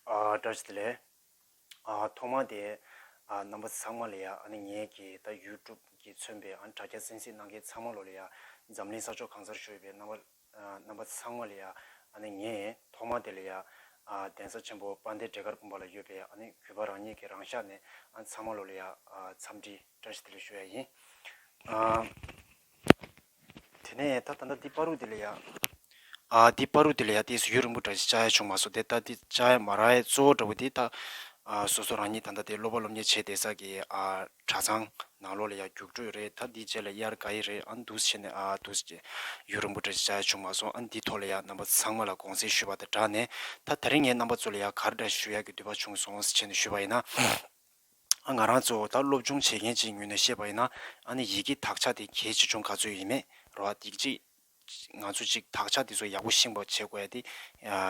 བཀྲ་ཤིས་བདེ་ལེགས། ཐོག་མར་དེ། རྣམ་པ་ཚང་མ་ལ་ཡ། ངེད་ཀྱི་ད་ཡུལ་གྲུབ་ཀྱི་མཚོན་པའི་དྲྭ་རྒྱ་གསན་གཟིགས་གནང་མཁན་ཚང་མ་ལོ་ལ་ཡ། འཛམ་གླིང་ས་ཕྱོགས་གང་སར་བཞུགས་ཡོད་པའི་རྣམ་རྣམ་པ་ཚང་མ་ལ་ཡ། ངེད་ཐོག་མར་དེ་ལ་ཡ། གདན་ས་ཆེན་པོ་དཔལ་ལྡན་འབྲས་དཀར་དགོན་པ་ལ་ཡོད་པའི་གུས་པ་རང་ཉིད་ཀྱི་རང་ཤག་ནས་ཚང་མ་ལོ་ལ་ཡ། འཚམས་འདྲི་བཀྲ་ཤིས་བདེ་ལེགས་ཞུ་ཡ་ཡིན། དེ་ནས་ད་ད་ལྟ་འདི་པཱ་རུ་ཏི་ལ་ཡ། ཨ། འདི་པཱ་རུ་ཏི་ལ་ཡ་དེ་སུ་ཡོད་རིན་པོ་བཀྲ་ཤིས་ཅཱ་ཡ་བྱུང་མ་སོང་དེ་ལྟ་དེ་ཅཱ་ཡ་མ་ར་ཡའི་གཙོ་བོ་འདྲ་བོ་དེ་ད། སོ་སོ་རང་ཉིད་ད་ལྟ་དེ་སློབ་པ་སློབ་གཉེར་བྱེད་བསྡད་ས་ཀྱི་ཨ། གྲྭ་ཚང། ནང་ལོགས་ལ་ཡ་རྒྱུགས་སྤྲོད་རེད་ད་འདིའི་རྗེས་ལ་དབྱར་ག་ཡི་རེད་ཨ་འདུག་བྱས་ནས་ཨ་འདུག་བྱས། ཡོད་རིན་པོ་བཀྲ་ཤིས་ཅཱ་ཡ་བྱུང་མ་སོང་ཨ་འདི་ཐོག་ལ་ཡ་རྣམ་པ་ཚང་མ་ལ་དགོངས་སེལ་ཞུས་པ་དང་སྦྲགས་ནས་ད་ད་རིང་ངའི་རྣམ་པ་ཚོ་ལ་ཡ་གར་འདྲ་ཞུ་ཡག་གི་འདུས་པ་བྱུང་སོང་ཟེར་བྱས་ནས་ཞུས་པ་ཡིན་ན། ང་རང་གཙོ་བོ་ད་སློབ་སྦྱོང་བྱེད་མཁན་གཅིག་ངོས་ནས་བཤད་པ་ཡིན་ན་ཨ་ནི་ཡི་གེ་དག་ཆ་དེ་གལ་ཆེ་ཆུང་ག་ཚོད་ཡིན་མེད་རོ་ཨ་ཐིག་གཅིག་ང་ཚོ་གཅིག་དག་ཆ་དེ་ཚོ་ཡག་པོ་ཤེས་པ་བྱེད་དགོས་ཡ་དེ་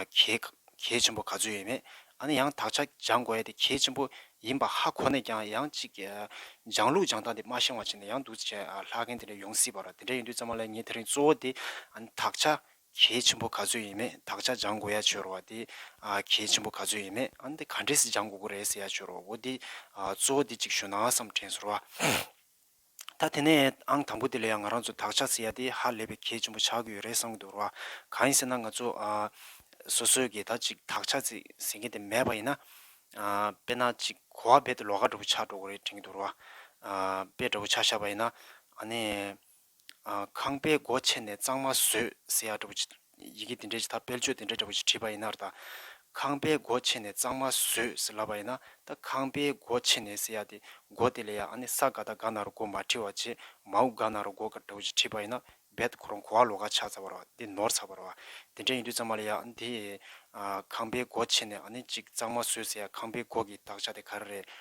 གལ་གལ་ཆེན་པོ་ག་ཚོད་ཡིན་མེད་ཨ་ནི་ཡང་དག་ཆ་སྦྱང་དགོས་ཡ་དེ་གལ་ཆེན་པོ་ཡིན་པ་ཧ་གོ་ནས་ཀྱང་ཡང་གཅིག་སྦྱང་ལུགས་སྦྱང་སྟངས་དེ་མ་ཤེས་བ་བྱས་ནས་ཡང་འདུག་བྱས་ལྷག་མཁན་དེ་འདྲ་ཡོང་སྲིད་པ་རོ་དེ་འདྲ་ཡིན་དུས་ཙམ་མ་ལ་ངས་དེ་རིང་གཙོ་བོ་དེ་ཨ་ནི་དག་ཆ་གལ་ཆེན་པོ་ག་ཚོད་ཡིན་མེད་དག་ཆ་སྦྱང་དགོས་ཡ་བྱོས་རོ་བ་དེ། གལ་ཆེན་པོ་ག་ཚོད་ཡིན་མེད་ཨ་འདི་ག་འདྲེས་སུ་སྦྱང་དགོས་ཀུ་རེད་ཟེར་ཡ་བྱོས་རོ་བོ་དེ། གཙོ་བོ་དེ་གཅིག་ཞུ་ནའང་བསམ་དྲན་ཟོར་བ། ད་དེ་ནས་ཨང་དང་པོ་དེ་ལས་ཡང་ང་རང་ཚོ་དག་ཆ་བརྩི་ཡ་དེ་ཧ་ལས་པའི་གལ་ཆེན་པོ་ཆགས་ཀྱི་ཡོད་རེད་བསམ་གྱི་འདུག་རོ་བ། གང་ཡིན་ཟེར་ན་ང་ཚོ། སོ་སོའི་གིས་ད་ཅིག་དག་ཆ་བརྩི་ཟེར་མཁན་དེ་མེད་པ་ཡིན་ན། དཔེར་ན་ཅིག་གོ་བ་རྦད་དེ་ལོག་ཀ་འདྲ་པོ་ཆགས་འགྲོ་གི་རེད་དྲན་གྱི་འདུག་རོ་བ། དཔེ་འདྲ་པོ་ཆགས་ཤག་པ་ཡིན་ན། ཨ་ནི། ཁང་པའི་སྒོ་ཕྱེ་ནས་གཙང་མ་བཟོས་ཟེར་ཡག་འདྲ་བོ་ཅིག་ཡི་གེ་དེ་འདྲའི་ཆེ་ད་སྤེལ་ཆོས་དེ་འདྲ་འདྲ་བོ་ཅིག་བྲིས་པ་ཡིན་ནར་ད། ཁང་པའི་སྒོ་ཕྱེ་ནས་གཙང་མ་བཟོས་ཟེར་ལབ་པ་ཡིན་ན་ད་ཁང་པའི་སྒོ་ཕྱེ་ནས་ཟེར་ཡག་དེ་སྒོ་དེ་ལས་ཡག་ཨ་ནི་ས་ག་ད་ག་ན་རུ་སྒོ་མ་བྲིས་བ་ཅེས་མ་འུ་ག་ན་རུ་སྒོ་ག་འདྲ་བོ་ཅིག་བྲིས་པ་ཡིན་ན་རྦད་ཁོ་རང་གོ་བ་ལོ་ག་ཆགས་ཚར་བ་ར་བ་འདི་ནོར་ཚར་བ་ར་བ་དེ་འདྲ་ཡིན་དུས་ཙང་མ་ལས་ཡག་འདི། ཁང་པའི་སྒོ་ཕྱེ་ནས་ཨ་ནི་ཅིག་གཙང་མ་བཟོས་ཟེར་ཡག་ཁང་པའི་སྒོ་གི་དག་ཆ་དེ་ག་རེ་རེད་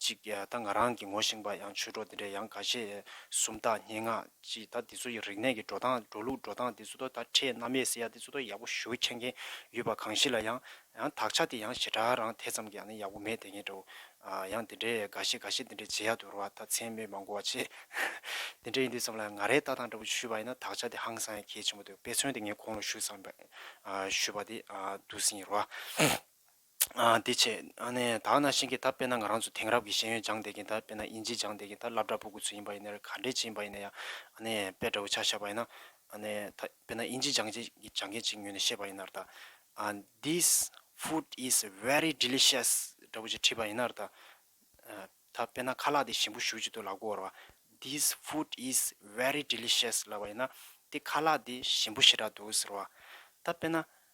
གཅིག་ད་ང་རང་གིས་ངོ་ཞིང་པ་ཡང་ཆོས་གྲོགས་འདི་འདྲའི་ཡང་ག་ཤེད་གསུམ་དག་སྙན་ངག་ཅིག་ད་འདི་ཚོ་ཡི་རིག་གནས་ཀྱི་འགྲོ་སྟངས་འགྲོ་ལུགས་འགྲོ་སྟངས་འདི་ཚོ་ད་ཁྲེས་རྣམ་ཡས་སེ་ཡ་འདི་ཚོ་ད་ཡག་པོ་ཞུ་མཁན་མཁན་ཡོད་པ་གང་ཞིག་ལ་ཡང་ཡང་དག་ཆ་དེ་ཡང་ཞེ་དྲག་རང་དེ་ཙམ་གྱི་ཡང་ན་ཡག་པོ་མེད་དེ་ངེས་འདྲའོ། ཡང་འདི་འདྲའི་ག་ཤེད་ག་ཤེད་འདི་འདྲའི་བྱེད་ཡག་ཏུ་རུ་བ་ད་མཚན་སྨོད་མ་གོ་བ་ཆེ། འདི་འདྲའི་ཡིན་དུས་ཙམ་ལ་ཡང་ང་རའི་ལྟ་སྟངས་འདྲ་པོ་ཞུས་པ་ཡིན་ན་དག་ཆ་དེ་ཧང་སང་ཡང་གལ་ཆེན་པོ་འདུག་དཔེ་མཚོན་དེ་ངས་ཁོང་ལ་ཞུས་ཙམ་ཞུས་པ་དེ་འདུག་ཟིན་ཡི་རུ་བ། དེ་བྱས། དག་ན་ཤིང་གི་ད་པེ་ན་ང་རང་ཚོ་དེང་རབས་ཀྱི་ཤེས་ཡོན་སྦྱང་བསྡད་ཀྱིན་ད་པེ་ན་དབྱིན་ཇི་སྦྱང་བསྡད་ཀྱིན་ད་ལབ་དྲ་ཕུག་གུ་ཚུད་ཡིན་པ་ཡིན་ནའི་ག་འདྲའི་ཅིག་ཡིན་པ་ཡིན་ན་ཡང་དཔེ་དྲ་བོ་ཆགས་ཤ་པ་ཡིན་ན་ད་པེ་ན་དབྱིན་ཇི་སྦྱང་བྱེད་སྦྱང་མཁན་ཅིག་ཉོས་ནས་ཤེས་པ་ཡིན་ནར་ད། This food is very delicious དྲ་བོ་ཅིག་བྲིས་པ་ཡིན་ནར་ད། ད་པེ་ན་ཁ་ལག་དེ་ཞིམ་པོ་ཞུ་ཅིག་ཏུ་ལག་མགོ་བོར་བ། This food is very delicious ལབ་པ་ཡིན་ན་དེ་ཁ་ལག་དེ་ཞིམ་པོ་ཞེ་དྲག་འདུག་ཟེར་བ། ད་པེ་ན་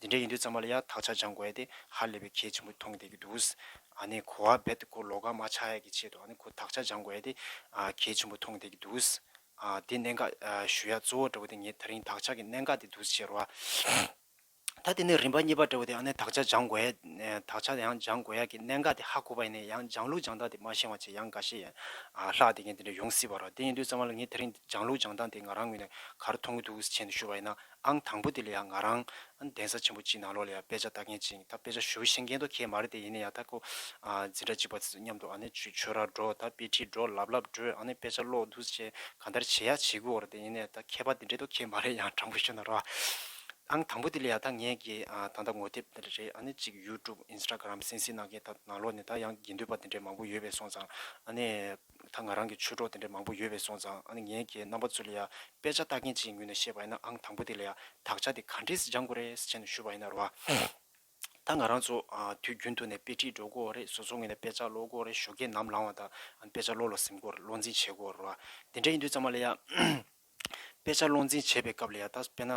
འདི་འདྲ་ཡིན་དུས་ཚང་མ་ལ་ཡང་དག་ཆ་སྦྱང་དགོས་ཡ་དེ་ཧ་ལས་པའི་གལ་ཆེན་པོ་མཐོང་བསྡད་ཀྱི་འདུག་ཨ་ནི་གོ་བ་རྦད་དེ་ཁོ་ལོག་ཁ་མ་ཆགས་ཡ་གི་ཆེད་དུ་ཨ་ནི་ཁོ་དག་ཆ་སྦྱང་དགོས་ཡ་དེ་གལ་ཆེན་པོ་མཐོང་བསྡད་ཀྱི་འདུག་ཨ་དེ་གནད་འགག་ཞུ་ཡ་གཙོ་བོ་འདྲ་བོ་དེ་ངས་ད་རིང་དག་ཆ་གི་གནད་འགག་དེ་འདུག་ཟེར་བ། ད་དེ་ནས་རིམ་པ་གཉིས་པ་འདྲ་བོ་དེ་ཨ་ནི་དག་ཆ་སྦྱང་དགོས་ཡ་དག་ཆ་ཡང་སྦྱང་དགོས་ཡ་གི་གནད་འགག་དེ་ཧ་གོ་བ་ཡིན་ནའི་ཡང་སྦྱང་ལུགས་སྦྱང་སྟངས་དེ་མ་ཤེས་བ་ཆེ་ཡང་འགའ་ཤས་ཡན་ལྷག་དེ་གཉིས་དེ་འདྲ་ཡོང་སྲིད་པ་རོ་དེ་ཡིན་དུས་ཚང་མ་ལ་ངས་ད་རིང་སྦྱང་ལུགས་སྦྱང་སྟངས་དེ་ང་རང་ངོས་ནས་གར་མཐོང་གི་འདུག་ཟེར་ཆེད་དུ་ཞུ་བ་ཡིན་ན། ཨང་དང་པོ་དེ་ལ་ཡང་ང་རང། གདན་ས་ཆེན་པོ་གཅིག་ནང་ལོགས་ལ་ཡང་དཔེ་ཆ་ལྟ་མཁན་གཅིག་ཡིན་ད་དཔེ་ཆ་ཞུ་ཤེས་མཁན་དོ་ཁྱེད་མ་རེད་དེ་ཡིན་ན་ཡང་ད་ཁོ། འཛིན་གྲྭ་གཅིག་པ་ཚོས་མཉམ་དུ་ཨ་ནི་ཆུ་ཆོད་ར་འགྲོ་ད་དཔེ་ཁྲིད་འགྲོ་ལབ་ལབ་འགྲོས་ཨ་ནི་དཔེ་ཆ་ཀློག་འདུག་བྱས་ག་འདར་བྱེད་ཡ་བྱེད་དགོས་རེད་དེ་ཡིན་ན་ཡང་ད་མཁས་པ་དེ་འདྲས་དོ་ཁྱེད་མ་རེད་ཡང་དྲང་པོ་ཞུ་ན་རོགས་ཨ། ཨང་དང་པོ་དེ་ལ་ཡང་ད་ངས་ཀྱི་ད་ལྟ་ངོ་དེབ་དེ་རེད་ཨ་ནི་གཅིག YouTube Instagram སེང་སེང་གནང་མཁན་ད་ནང་ལོགས་ནས་ད་ཡང་དགེ་འདུན་པ་དེ་འདྲས་མང་པོ་ཡོད་པས་སོང་ཙང་ཨ་ནི། ད་ང་རང་གི་ཆོས་གྲོགས་དེ་འདྲ་མང་པོ་ཡོད་པས་སོང་ཙང་ཨ་ནི་ངའི་རྒྱའི་རྣམ་པ་ཚོ་ལ་ཡང་དཔེ་ཆ་ལྟ་མཁན་གཅིག་ངོས་ནས་བཤད་པ་ཡིན་ན་ཨང་དང་པོ་དེ་ལ་ཡང་དག་ཆ་དེ་ག་འདྲས་སུ་སྦྱང་དགོས་རེད་ཟེར་བྱས་ནས་ཞུ་བ་ཡིན་ན་རོགས་ཨ། ད་ང་རང་ཚོ་དུས་རྒྱུན་དུ་ནས་དཔེ་ཁྲིད་འགྲོ་དགོས་རེད་བཟོ་ཚོགས་ངོས་ནས་དཔེ་ཆ་ཀློག་དགོས་རེད་ཞོ་སྐད་ནམ་ལངས་བ་དང་ཨ་ནི་དཔེ་ཆ་ཀློག་ལ་གཟིམ་དགོས་རེད་བློ་འཛིན་བྱེད་དགོས་རེད་རོགས་ཨ། དེ་འདྲ་ཡིན་དུས་ཙམ་མ་ལ་ཡང། དཔེ་ཆ་བློ་འཛིན་བྱེད་པའི་སྐབས་ལ་ཡང་ད་དཔེ་ན།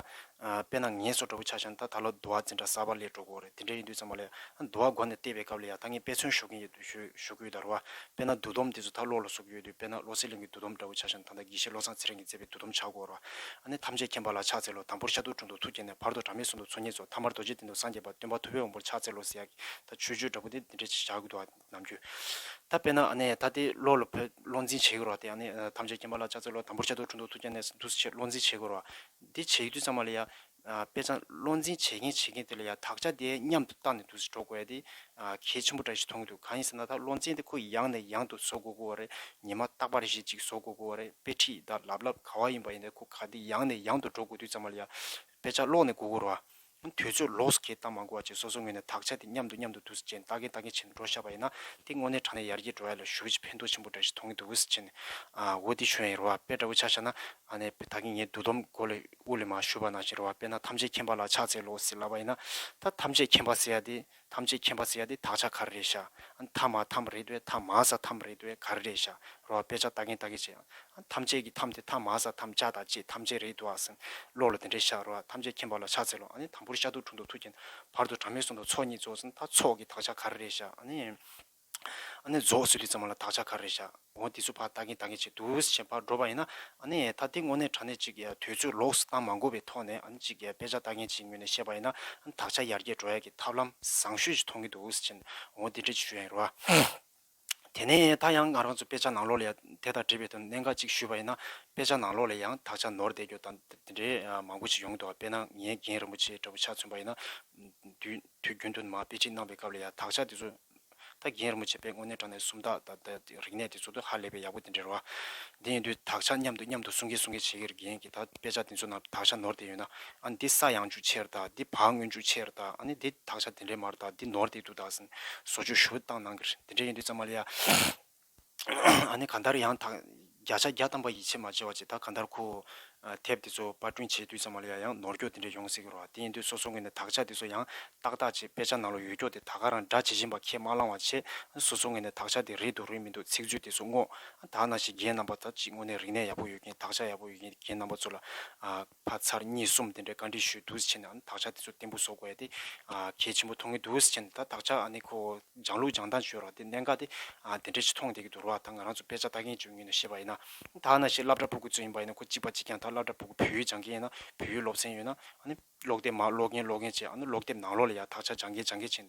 དཔེ་ན་ངལ་གསོ་འགྲོ་པོ་ཆགས་ཤིང་ད་ད་ལོ་དུ་བ་འཛིན་གྲྭ་གསར་པ་ལས་འགྲོ་དགོས་རེད་དེ་འདྲའི་ཡིན་དུས་ཚང་མ་ལ་ཡང་དུ་བ་སྒོ་ནས་བལྟས་པའི་སྐབས་ལ་ཡང་ད་ངས་དཔེ་མཚོན་ཞུ་གིན་ཡོད་དུས་ཞུ་གི་ཡོད་ད་རོ་བ། དཔེ་ན་འདུག་སྡོམ་དེ་ཚོ་ད་བློ་ལ་བསུབ་ཀྱི་ཡོད་དུས་དཔེ་ན་བློ་གསལ་གླིང་གི་འདུག་སྡོམ་འདྲ་བོ་ཆགས་ཤིང་ད་ད་དགེ་བཤེས་བློ་བཟང་ཚེ་རིང་གིས་བསྩལ་པའི་འདུག་སྡོམ་ཆགས་དགོས་རོ། ཨ་ནི་ཐམས་ཅད་མཁྱེན་པ་ལ་ཕྱག་འཚལ་ལོ་དང་པོར་ཤ་དུག་དྲུང་དུ་ཐུགས་བསྐྱེད་ནས་བར་དོ་གྲ་མེད་གསུམ་དུ་འཚོལ་ངེས་སོ་མཐའ་མར་རྡོ་རྗེ་གདན་དུ་སངས་རྒྱས་པ་སྟོན་པ་ཐུབ་པའི་དབང་པོར་ཕྱག་འཚལ་ལོ་ཟེར་ཡ་གི་ད་ཆོས་སྤྱོད་འདྲ་པོ་དེ་འདི་འདྲའི་བྱ་གི་འདུག་ཨ། ནམ་རྒྱུན། ད་དཔེར་ན་ནས་ད་ལྟའི་ལོ་ལ་བོད་བློ་འཛིན་བྱེད་དགོས་རོགས་དེ་ནས་ཐམས་ཅད་སྐྱེན་པ་ལ་ལྕགས་ཚོད་ལོ་དམ་པོར་བྱ་དུ་འཁྲུ་འདུག་ཐུགས་རྒྱ་ནས་འདུག་སེ་ཆེད་བློ་འཛིན་བྱེད་དགོས་རོགས། དེ་བྱེད་དུས་ཙང་མ་ལ་ཡ། དཔེ་ཙང་བློ་འཛིན་བྱེད་མཁན་བྱེད་མཁན་དེ་ལ་ཡ་དག་ཆ་དེ་མཉམ་དུ་བཏགས་ནས་འདུག་སེ་འགྲོ་དགོས་ཡ་དེ། གལ་ཆེན་པོ་འདྲ་ཞིག་མཐོང་གི་འདུག་གང་ཡིན་ཟེར་ན་ད་བློ་འཛིན་དེ་ཁོ་ཡང་ནས་ཡང་དུ་བཟོ་དགོས་དགོས་བ་རེད་ཉི་མ་རྟག་པ་རེ་ཞིག་ཅིག་བཟོ་དགོས་དགོས་བ་རེད་དཔེ་ཁྲིད་དང་ལབ་ལབ་ག་བ་ཡིན་པ་ཡིན་ད་ཁོ་ག་དེ་ཡང་ནས་ཡང་དུ་འགྲོ་དགོས་དུས་ཙང་མ་ལ་ཡ། དཔེ་ཆ་ཀློག་ནས་དགོས་དགོས་རོགས། དུས་ཚོད་ལོགས་སུ་ཁེལ་བཏང་མ་འགོར་བ་བཅས་སོ་སོའི་ངོས་ནས་དག་ཆ་དེ་མཉམ་དུ་མཉམ་དུ་འདུག་ཟེར་གྱིན་ལྟ་གིན་ལྟ་གིན་བྱས་ནས་འགྲོ་བཞག་པ་ཡིན་ན་དེ་དངོས་གནས་དྲང་གནས་ཡར་རྒྱས་འགྲོ་བ་ཡིན་ལ་ཞུ་བ་ཆེ་ཕན་ཐོགས་ཆེན་པོ་འདྲ་ཞིག་མཐོང་གིན་འདུག་ཟེར་གྱིན། འོ་དེ་ཞུ་ན་ཡིན་རོ་བ་དཔེ་འདྲ་བོ་ཆགས་བཞག་ན། ཨ་ནེ་དཔེ་ད་གིན་ངས་བསྡུ་སྡོམ་གོ་ལ་དབུ་ལས་མ་ཞུས་པ་ནང་བཞིན་རོ་བ་དཔེ་ན་ཐམས་ཅད་མཁྱེན་པ་ལ་ཕྱག་འཚལ་ལོ་ཟེར་ལབ་པ་ཡིན་ན། ད་ཐམས་ཅད་མཁྱེན་པ་ཟེར་ཡ་དེ། ཐམས་ཅད་མཁྱེན་པ་ཟེར་ཡ་དེ་དག་ཆ་ག་རེ་རེད་ཤ་ཨང་ཐ་མ་ཐམ་རེད་བས་ཐ་མ་ས་ཐམ་རེད་བས་ག་རེ་རེད་ཤ་རོ་ཨ་དཔེ་ཆ་ལྟ་གིན་ལྟ་གིན་བྱས་ཨང་ཐམས་ཅད་ཀྱི་ཐམ་དེ་ཐ་མ་ས་ཐམ་ཅག་དང་བཅས་ཐམས་ཅད་རེད་འདུག་ཨ་སེམས་བློ་ལ་དེ་འདྲས་ཤ་རོ་ཨ་ཐམས་ཅད་མཁྱེན་པ་ལ་ཕྱག་འཚལ་ལོ་ཨ་ནི་དམ་པོར་ཤ་དུག་དྲུང་དུ་ཐུགས་བསྐྱེད་བར་དུ་གྲངས་མེད་གསུང་དང་ཚོགས་གཉིས་རྫོགས་ཟིན་ད་ཚོགས་ཀྱི་དག་ཆ་ག་རེ་རེད་ཤ་ཨ་ནི། ཨ་ནེ་རྫོགས་ཟིན་རིག་ཙམ་མ་ལ་དག་ཆ་ག་རེ་བཞག་འོ་དེ་ཚོ་ཕར་ལྟ་གིན་ལྟ་གིན་བྱས་འདུག་བྱས་ཕར་འགྲོ་པ་ཡིན་ན་ཨ་ནེ་ད་དེ་དངོས་གནས་དྲ་གནས་ཅིག་དུས་ཚོད་ལོགས་སུ་བཏང་མ་དགོས་པའི་ཐོག་ནས་ཨ་ནེ་ཅིག་དཔེ་ཆ་ལྟ་གིན་བྱེད་ངོས་ནས་བཤད་པ་ཡིན་ན་དག་ཆ་ཡར་རྒྱས་འགྲོ་ཡག་གི་ཐབས་ལམ་བཟང་ཤོས་ཅིག་མཐོང་གིན་འདུག་བྱས་འོ་དེ་འདྲས་ཅིག་ཞུ་ཡག་ཡིན་རུང། དེ་ནས་ད་ཡང་ང་རང་ཚོ་དཔེ་ཆ་ནང་ལོགས་ལས་དེ་དང་འབྲེལ་བའི་དོན་གནད་འགའ་ཅིག་ཞུས་པ་ཡིན་ན་དཔེ་ཆ་ནང་ལོགས་ལས་ཡང་དག་ཆ་ནོར་བསྡད་རྒྱུ་དང་དེ་འདྲས་མང་པོ་ཅིག་ཡོང་གི་འདུག་དཔེར་ན་ངའི་རྒན་རིན་པོ་ཆེ་འདྲ་བོ་ཆ་མཚོན་པ་ཡིན་ན། དུས་རྒྱུན་དུ་མ་དཔེ་ཁྲིད་གནང་བའི་སྐབས་ལ་ཡང་དག་ཆ་དེ་ཚོ་ད་རྒན་རིན་པོ་ཆེ་པས་དངོས་གནས་དྲང་གནས་སུམ་རྟགས་དང་རིག་གནས་དེ་ཚོ་དོན་ཧ་ལས་པའི་ཡག་པོ་དེ་འབྲེལ་བ། དེ་ཡིན་དུས་དག་ཆ་མཉམ་དུ་མཉམ་དུ་གསུང་གིན་གསུང་གིན་བྱེད་ཀྱི་རྒན་གྱིས་ད་དཔེ་ཆ་དེ་ཚོ་ནང་དག་ཆ་ནོར་བསྡད་ཡོད་ན་ཨ་འདི་ས་ཡང་ཅུ་ཆེར་དང་འདི་བག་དངོས་ཅུ་ཆེར་དང་ཨ་ནི་འདི་དག་ཆ་དེ་འདྲའི་མར་དང་འདི་ནོར་བསྡད་འདུག་དག་ཟིན་བཟོ་བཅོས་ཞུ་བཏང་གནང་གི་རེད་དེ་འདྲས་ཡིན་དུས་ཙམ་མ་ལ་ཡ། ཨ་ནི་གང་ལྟར་ཡང་དག་བརྒྱ་ཆ་བརྒྱ་བཏང་པ་ཡིད་ཆེས་མ་བྱེད་བ་ཅིག་དང་གང་ལྟར་ཁོའོ། དེབ་དེ་ཚོ་པར་སྐྲུན་བྱེད་དུས་ཙམ་མ་ལོས་ཡ་ཡང་ནོར་འཁྱོག་དེ་འདྲས་ཡོང་སྲིད་ཀྱི་རོ་ཨ་དེ་ཡིན་དུས་སོ་སོ་ངོས་ནས་དག་ཆ་དེ་ཚོ་ཡང་དག་དག་ཅིག་དཔེ་ཆ་ནང་ལ་ཡོད་འཁྱོག་དེ་ད་ག་རང་འདྲ་ཇི་བཞིན་པ་ཁས་མ་བླང་བ་ཆེ་སོ་སོ་ངོས་ནས་དག་ཆ་དེ་རེད་འདུག་རེད་མི་འདུག་ཚིག་མཛོད་དེ་ཚོ་སྔོག་དག་ན་ཞིག་རྒན་རྣམ་པ་དག་ཅིག་དངོས་གནས་རིག་གནས་ཡག་པོ་ཡོད་མཁན་དག་ཆ་ཡག་པོ་ཡོད་མཁན་རྒན་རྣམ་པ་ཚོ་ལ་ཕ་ཚར་གཉིས་གསུམ་དེ་འདྲའི་བཀའ་འདྲི་ཞུས་འདུག་ཟེར་ནའང་དག་ཆ་དེ་ཚོ་བརྟན་པོ་བཟོ་དགོས་ཡ་དེ། གལ་ཆེན་པོ་མཐོང་གི་འདུག་ཟེར་ནས་ད་དག་ཆ་ནི་ཁོ་སྦྱང་ལུགས་སྦྱང་སྟངས་བཅོས་རོགས་དེ་གནད་འགག་དེ། དེ་འདྲའི་ཆེ་མཐོང་དེ་གི་དོར་བ་ད་ང་རང་ཚོ་དཔེ་ཆ་ལྟ་མཁན་བཅོ་ལྔའི་ནང་ཤེས་པ་ཡིན་ན། ད་ཨ་ན་ཞིག་བླ་བྲ་སྤུ་གུ་ཚོ་ཡིན་པ་ཡིན་ན་ཁོ་གཅིག་པ་གཅིག་ཀྱང་ད་བླ་བྲ་སྤུ་གུ་བོད་ཡིག་སྦྱང་མཁན་ཡིན་ན་བོད་ཡིག་སློབ་ཚན་ཡོད་ན། ཀློག་དེབ་མ་ཀློག་མཁན་ཀློག་མཁན་བཅས་ཨ་ན་ཀློག་དེབ་ནང་ཀློག་ལ་ཡ་དག་ཆ་སྦྱང་མཁན་སྦྱང་མཁན་བྱས།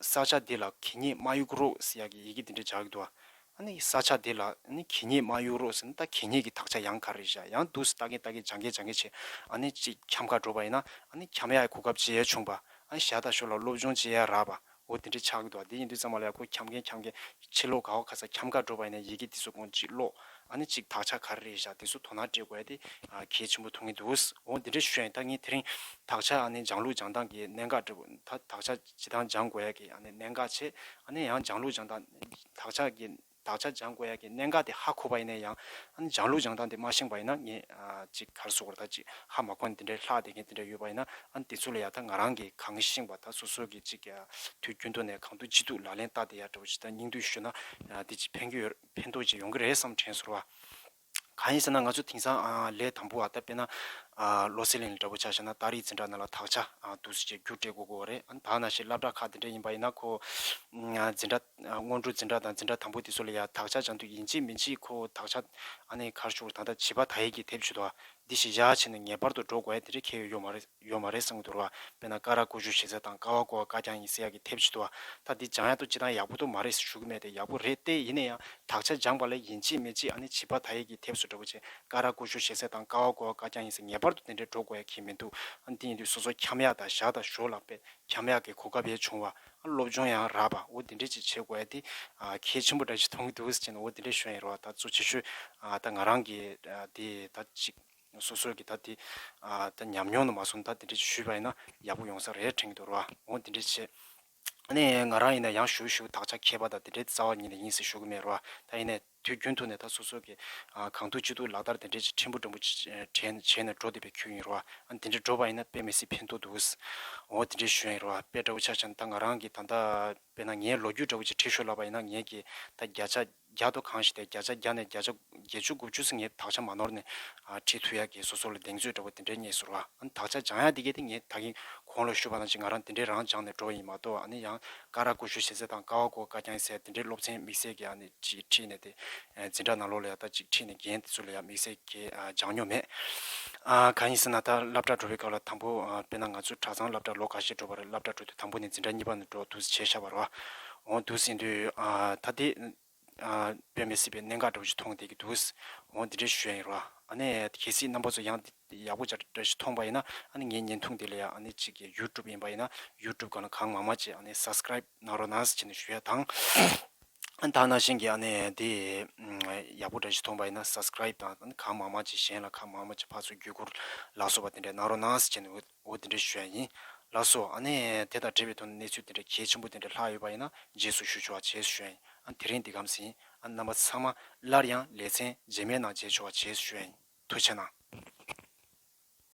ས་ཆ་དེ་ལ་གིས་ཉེས་དམའ་ཡུག་རོགས་ཟེར་ཡག་གི་ཡི་གེ་དེ་འདྲ་བྱ་གི་འདུག་ཨ། ཨ་ནི་ས་ཆ་དེ་ལ་ནི་གིས་ཉེས་དམའ་ཡུག་རོགས་ཟེར་ན་ད་གིས་ཉེས་ཀྱི་དག་ཆ་ཡང་ག་རེ་བཞག་ཡང་འདུག་ཟེར་ལྟ་གིན་ལྟ་གིན་སྦྱང་གིན་སྦྱང་གིན་བྱས་ཨ་ནི་གཅིག་འཁྱམ་ཁ་འགྲོ་བ་ཡིན་ན་ཨ་ནི་འཁྱམ་ཡག་གི་གོ་སྐབས་བྱེད་ཡ་བྱུང་བ་ཨ་ནི་ཞག་དང་ཞོར་ལ་སློབ་སྦྱོང་བྱེད་ཡ་རག་པ་འོ་དེ་འདྲ་ཆགས་གི་འདུག་ཨ་དེ་ཡིན་དུས་ཙང་མ་ལ་ཡག་གོ་འཁྱམ་གིན་འཁྱམ་གིན་ཕྱིར་ལོག་ག་འོ་ག་ས་འཁྱམ་ཁ་འགྲོ་བ་ཡིན་ན་ཡི་གེ་འདི་ཚོ་ཀོང་ཅིག་ཀློག་ཨ་ནི་ཅིག་དག་ཆ་ག་རེ་རེད་བཞག་དེ་ཚོ་དོ་སྣང་སྤྲད་དགོས་ཡ་དེ་གལ་ཆེན་པོ་ཐུག་ངེས་འདུག་འོ་དེ་འདྲ་ཞུ་ཡ་ཡིན་ད་ངས་དེ་རིང་དག་ཆ་ཨ་ནི་སྦྱང་ལུགས་སྦྱང་སྟངས་ཀྱི་གནད་འགག་འདྲི་དགོས་ད་དག་ཆ་ཇི་ཐང་སྦྱང་དགོས་ཡ་གི་ཨ་ནི་གནད་འགག་ཆེ་ཨ་ནི་ཡང་སྦྱང་ལུགས་སྦྱང་སྟངས་དག་ཆ་གི་དག་ཆ་སྦྱང་དགོས་ཡ་གི་གནད་འགག་དེ་ཧ་གོ་བ་ཡིན་ན་ཡང་ཨ་ནི་སྦྱང་ལུགས་སྦྱང་སྟངས་དེ་མ་ཤེས་པ་ཡིན་ན་ངས་ཅིག་གར་སོ་གོ་ར་ད་ཅིག་ཧ་མ་གོ་ནི་དེ་འདྲའི་ལྷག་དེ་ངས་དེ་འདྲ་ཡོད་པ་ཡིན་ན་ཨ་ནི་དེ་ཚོ་ལ་ཡ་ད་ང་རང་གིས་གང་ཤེས་པ་ད་སོ་སོ་གིས་ཅིག་དུས་རྒྱུན་ཐོག་ནས་གང་ཐུག་ཅི་ཐུག་ལག་ལེན་བསྟར་དེ་ཡ་འདྲ་བོ་ཅིག་ད་སྙིང་བསྡུས་ཞུས་ན་དེ་ཅིག་ཕན་གྱི་ཡོད། ཕན་ཐོགས་ཅིག་ཡོང་གི་རེད་བསམ་དྲན་ཚོར་བ། གང་ཡིན་ཟེར་ན་ང་ཚོ་དེང་སང་ལས་དང་པོ་བ་ད་དཔེ་ན། བློ་སེང་ལེ་ལི་འདྲ་བོ་ཆགས་ཤག་ན་སྟག་རིས་འཛིན་གྲྭ་ན་ལ་དྭགས་ཆ་འདུག་ཟེར་ཅེས་རྒྱུ་སྤྲད་དགོས་དགོས་བ་རེད་ཨ་དྭགས་ན་ཞིག་བླ་བྲག་ཁག་དེ་འདྲ་ཡིན་པ་ཡིན་ན་ཁོ། འཛིན་གྲྭ། སྔོན་འགྲོ་འཛིན་གྲྭ་དང་འཛིན་གྲྭ་དང་པོ་དེ་ཚོ་ལ་ཡང་དྭགས་ཆ་ཅང་འདུག་ཡིན་གཅིག་མིན་གཅིག་ཁོ་དྭགས་ཆ། ཨ་ནེ་གར་ཤོར་ད་ལྟ་བྱིས་པ་དྭགས་ཡིག་གིས་དེབ་ཆུད་དོ། འདི་ཞིག་བཞག་བྱས་ནས་ངེས་པར་དུ་འགྲོ་དགོས་ཡ་དེ་འདྲ་ཁྱེད་ཡོད་ཡོད་མ་རེད། ཡོད་མ་རེད་བསམ་གྱི་འདུག་ར་བས་ན་ཀ་ར་ཀོ་ཇུ་ཞེས་ཟེར་དང་ཀ་བ་ཀོ་བ་ཀ་རྐྱང་ཡིན་ཟེར་ཡག་གི་དེབ་ཅིག་འདུག་ད་འདི་སྦྱང་ཡག་འདུག་ཅི་ཐང་ཡག་པོ་འདུག་མ་རེད་ཟེར་ཞུ་གི་མེད་དེ་ཡག་པོ་རེད་ཏེ་ཡིན་ན་ཡང་དག་ཆ་སྦྱངས་པ་ལས་ཡིན་གཅིག་མེད་གཅིག་ཨ་ནི་བྱིས་པ་ད་ཡིག་གི་དེབ་སུ་འདྲ་པོ་བྱེད་ཀ་ར་ཀོ་ཇུ་ཞེས་ཟེར་དང་ཀ་བ་ཀོ་བ་ཀ་རྐྱང་ཡིན་ཟེར་ངེས་པར་དུ་དེ་འདྲས་འགྲོ་དགོས་ཡག་གི་མི་འདུག་ཨ་འདི་ཡིན་དུས་སོ་སོ་འཁྱམ་ཡག་དང་བཞག་དང་ཞོར་ལ་དཔེ་འཁྱམ་ཡག་གི་གོ་སྐབས་ཡལ་བྱུང་བ་ཨ་སློབ་སྦྱོང་ཡང་ར་བ་འོ་འདི་འདྲས་ཅིག་བྱེད་དགོས་ཡ་འདི་གལ་ཆེན་པོ་འདྲ་ཞིག་མཐོང་གི་འདུག་ཟེར་གྱིན་འོ་འདི་འདྲས་ཞོན་ཡེར་བ་ད་གཙོ་ཆེ་ཤོས་ད་ང་རང་གིས་འདི་ད་ཅིག། སོ་སོ་གི་ད་དེ་ད་ཉམས་མྱོང་དུ་མ་སོང་ད་དེ་འདྲས་ཞུས་པ་ཡིན་ན་ཡག་པོ་ཡོང་ས་རེད་དྲན་གི་འདུག་རོ་འོང་དེ་འདྲས་བྱེད། ནས་ང་རང་ཡིན་ན་ཡང་ཞུ་ཞུ་དག་ཆ་མཁས་པ་དང་དེ་འདྲས་རྩ་བ་ཉིད་ནས་ཡིན་ཟེར་ཞུ་གི་མེད་རོ་ད་ཡིན་ནས་དུས་རྒྱུན་ཐུག་ནས་ད་སོ་སོ་གི་གང་ཐུག་ཅི་ཐུག་ལག་བསྟར་དེ་འདྲས་བྱེད་ཕྲན་བུ་ཕྲན་བུ་བྱེད་ནས་འགྲོ་བསྡད་པའི་ཁྱོད་ཡིན་རོ་ཨ་དེ་འདྲས་འགྲོ་བ་ཡིན་ན་དཔེ་མི་སྲིད་ཕན་ཐོག་འདུག་འོང་དེ་འདྲས་ཞུ་ཡིན་རོ་དཔེ་འདྲ་བོ་ཆགས་ཆགས་ནས་ད་ང་རང་གི་ད་ལྟ་དཔེ་ན་ངའི་ལོ་རྒྱུས་འདྲ་བོ་ཅིག་ཁྲིད་ཤོར་ལབ་པ་ཡིན་ན་ངས་ཀྱིས་ད་བརྒྱ་ཆ་བརྒྱ་དོ་གང་ཞིག་དེ་བརྒྱ་ཆ་བརྒྱ་ནས་བརྒྱ་ཆ་བརྒྱད་ཅུ་དགུ་བཅུ་ཟིག་ངས་དག་ཆ་མ་ནོར་ནས་བྲིས་ཐུག་ཡ་གི་སོ་སོ་ལ་གདེང་ཚོད་འདྲ་པོ་དེ་འདྲའི་རྙེད་ཟུར་བ་ཨ་ནི་དག་ཆ་སྦྱང་ཡ་དེ་གས་ཏེ་ངས་ད་གིན་གོང་ལ་ཞུ་བ་ན་ཅིག་ང་རང་དེ་འདྲའི་རང་སྦྱང་ནས་འགྲོ་བ་ཡིན་མ་གཏོགས་ཨ་ནི་ཡང་ཀ་ར་ཀོ་ཤུ་ཤེས་ཚད་དང་ཀ་བ་ཀོ་ཀ་རྐྱང་ཚད་དེ་འདྲའི་སློབ་ཚན་དམིགས་བསལ་གྱི་ཨ་ནི་ཅིག་ཁྲིད་ནས་དེ་འཛིན་གྲྭ་ནང་ལོགས་ལ་ཡ་ད་ཅིག་ཁྲིད་ནས་རྒན་དེ་ཚོ་ལ་ཡང་དམིགས་བསལ་གྱི་སྦྱང་མྱོང་མེད། གང་ཡིན་ཟེར་ན་ད་སླབ་གྲྭ་འགྲོ་བའི་སྐབས་ལ་དང་པོ་དཔེར་ན་ང་ཚོ་གྲྭ་ཚང་སླབ་གྲྭ་ལོ་ག་ཤེད་འགྲོ་བར་སླབ་གྲྭ་འགྲོ་དུས་དང་པོ་ནས་འཛིན་གྲྭ་གཉིས་པ་ནས་འགྲོ་དུས་བྱས་ཤ་བར་བ། འོང་འདུག་ཟེར་དུས། ད་ལྟའི། བོད་མི་སྲིད་པའི་གནད་འགག་འདྲ་བོ་ཞིག་མཐོང་བསྡད་ཀྱི་འདུག། འོང་འདི་འདྲའི་ཞོད་ཡིན་རོགས་ཨ། ཨ་ནི་གལ་སྲིད་རྣམ་པ་ཚོ་ཡང་འདི་ཡག་པོ་འདྲ་འདྲ་ཞིག་མཐོང་པ་ཡིན་ན་ཨ་ནི་ངའི་བརྙན་ཐུང་འདི་ལ་ཡང་ཨ་ནི་གཅིག་གི YouTube ཡིན་པ་ཡིན་ན YouTube གང་ལ་གང་མང་མང་ཅིག་ཨ་ནི Subscribe གནང་རོགས་གནང་ཅིག་ནི་ཞུ་ཡ་དང། ཨ་ནི་ད་ནང་བཞིན་གྱི་ཨ་ནི་འདི། ཡག་པོ་འདྲ་ཞིག་མཐོང་པ་ཡིན་ན Subscribe དང་གང་མང་མང་ཅིག་གཞན་ལ་གང་མང་མང་ཅིག་ཕར་ཚུར་བརྒྱུད་བསྐུར། ལགས་སོ་བ་དེ་འདྲ་གནང་རོགས་གནང་ཅིག་ནི་འོད། འོ་དེ་འདྲའི་ཞུ་ཡ་ཡིན། ལགས་སོ། ཨ་ནི། དེ་དང་འབྲེལ་བའི་ཐོག་ནས་གནས་ཚུལ་དེ་འདྲ་གལ་ཆེན་པོ་དེ་འདྲ་ལྷག་ཡོད་པ་ཡིན་ན་རྗེས་སུ་ཞུ་ཆོག་བྱས་ཞུ་ཡ་ཡིན། ཨ་དེ་རིང་འདི་གམ་ཟིན། ཨ་རྣམ་པ་ཚང་མ། སླར་ཡང་ལེ་ཚན་རྗེས་མའི་ནང་མཇལ་ཆོག་བྱས་ཞུ་ཡ་ཡིན། ཐུགས་ཆེ་གནང།